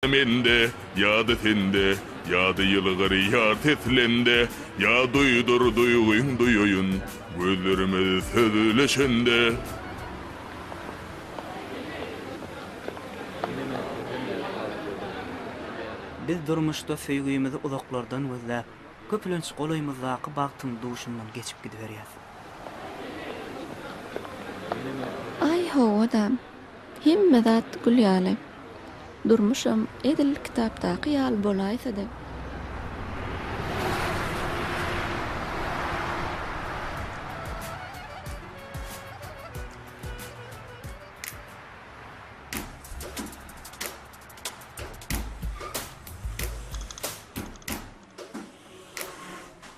Mende, ýa-da sende, Ýa-da ýylgyr ýar seslende, Ýa duýdur duýgyň duýaýyn, Gözlerimiz sözleşende. Biz durmuşda söýgimizi uzaklardan gözläp, köplenç golaýymyzdaky bagtyň duşundan geçip gidiberýäs. Aý, hawa-da. Hemme zat gül ýaly. Durmuşam edil kitapdaky ýaly bolaýsady.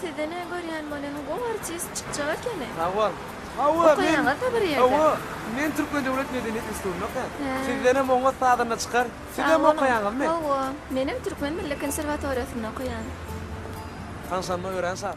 Sizde ne görýän bolýan gowy artist çykjak ekeni. Sag bol. Hawa men Okaýaňyzda bir ýerde. Hawa men Türkmen döwlet medeniýet institutynda okaýan. Sizdenem oňat sazanda çykar. Sizem okaýaňyzmy? Hawa. Menem Türkmen milli konserwatoriýasynda okaýan. Tanyşanyma örän şat.